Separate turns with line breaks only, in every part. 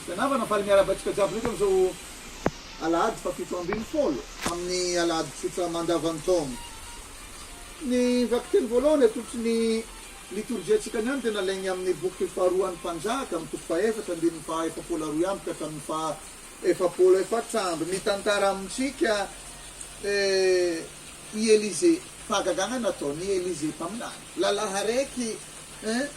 Tsy anavana faly miarahaba antsika jiaby ndraiky amin'izao alahady fahafito ambin'ny folo amin'ny alahady tsotra mandavan-taona. Ny vakiteny voalohany atolotra ny litorjiantsika ny andro dia nalainy amin'ny boky faharoan'ny Mpanjaka amin'ny toko fahefatra andininy faha efapolo aroa amby ka hatramin'ny faha efapolo efatra amby. Mitantara amintsika i Elisée fahagagana nataon'i Elisée mpaminany. Lalaharaiky eh.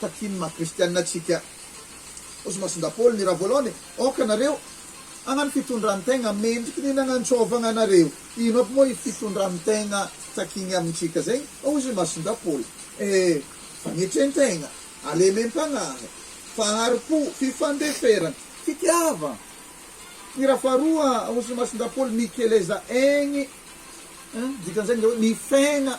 Takian' ny maha kristiana antsika ozy masindahy Paoly ny raha voalaony e, Aoka nareo hagnano fitondran-tegna mendriky ny nagnantsôvagna anareo. Ino aby moa i fitondran-tegna takiagny amintsika zegny ozy masindahy Paoly e? Fagnetren-tegna, halemem-pagnahy, fahari-po, fifandeferagna, fitiavagna. Ny raha faharoa ozy masindahy Paoly mikeleza egny, dikan'izegny le hoe mifegna.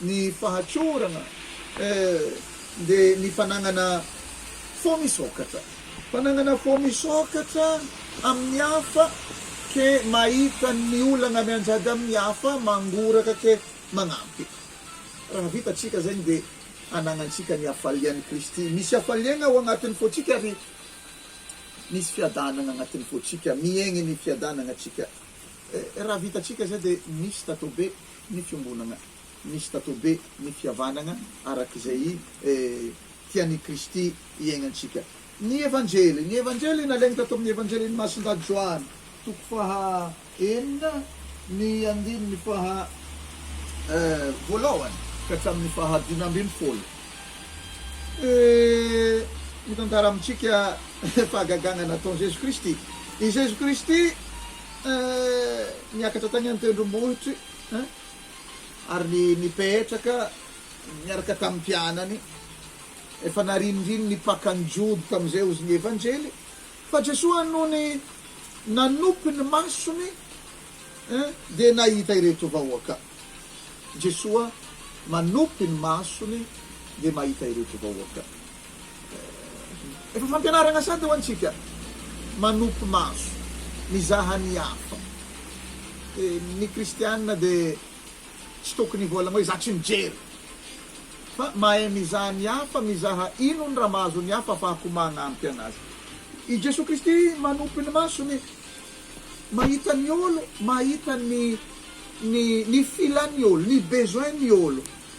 ny fahatsorana eh de ny fananana fo misokatra fananana fo misokatra amin ny hafa ke mahita ny olana mianjady amin ny hafa mangoraka ke manampy raha vita tsika zegny de ananantsika ny hafalian Kristy misy hafaliagna ao agnatin ny fotsika ary misy fiadanagna agnatin ny fotsika miegny ny fiadanagna tsika Raha vitantsika izay dia misy tatobe ny fiombonana, misy tatobe ny fihavanana araka izay tian' i Kristy hiainantsika. Ny Evanjely, ny Evanjely nalainy tato amin' ny Evanjelin' i Masindahy Joany, toko faha enina, ny andininy faha voalohany ka hatramin' ny faha dimy ambin' ny folo, mitantara amintsika fahagagana nataon' i Jesoa Kristy. I Jesoa Kristy. Eh, niakatra tany an-tendrombohitry eh, ary ny nipetraka niaraka tamin'ny mpianany. Efa nariniriny ny pakan'ny Jody tamin'izay ozy ny Evanjely, fa Jesoa nony nanopy ny masony eh, dia nahita ireto vahoaka. Jesoa manopy ny masony dia mahita ireto vahoaka. Efa fampianarana sady ho antsika manopy maso mizaha ny hafa. Ny kristiana dia tsy tokony hivolagna hoe za tsy mijery fa mahay mizaha ny hafa, mizaha inony raha mahazo ny hafa afahako magnampy anazy. I Jesoa Kristy manopy ny masony mahita ny olo, mahita ny ny ny filan'ny olo, ny besoin ny olo.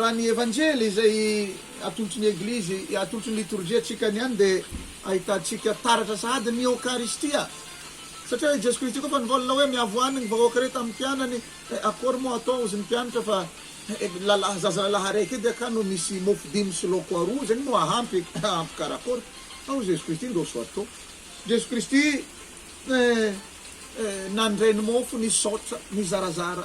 Raha ny Evanjely izay atolotry ny Eglizy, atolotry ny Litorjia antsika niany dia ahitantsika taratra sahady ny Eokaristia. Satria hoe i Jeso Kristy koa efa nivolana hoe miavoany ny vahoaka re tamin'ny mpianany, akory moa hatao hozy ny mpianatra fa lalahy, zaza lalahy araiky edy aka no misy mofo dimy sy laoko aroa, zay moa ahampy, ahampy karakôry? Ao Jeso Kristy ndôso atô. Jeso Kristy nandray ny mofo, nisaotra, nizarazara.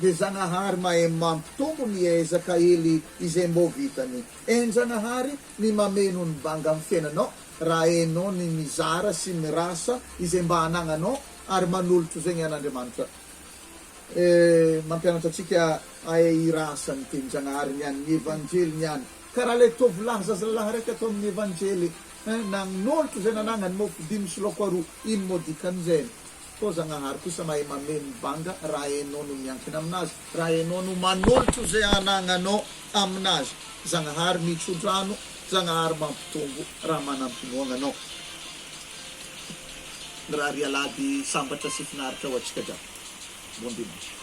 Dia Zagnahary mahay mampitombo ny ezaka ely izay mbô vitany. Enjagnahary ny mameno ny banga amin'ny fiainanao raha hainao ny mizara sy mirasa izay mba anagnanao ary manolotro zegny an'Andriamanitra. E, mampianatra antsika hahay hirasa ny tenin-Jagnahary ny an'ny Evanjely ny any. Karaha ilay tovolahy zazalahy raiky ato amin'ny Evanjely, eh, nagnolotro izay nanagnany, mofo dimy sy laoko aroa, ino moa dikan'izay? Toa Zagnahary kosa mahay mameno banga raha enao no miankina aminazy, raha enao no manolotro ze anagnanao aminazy. Zagnahary mitsodrano, Zagnahary mampitombo raha manam-pinoagna anao. Mirary alahady sambatra sy finaritra ho antsika jiaby. Bon dimanche.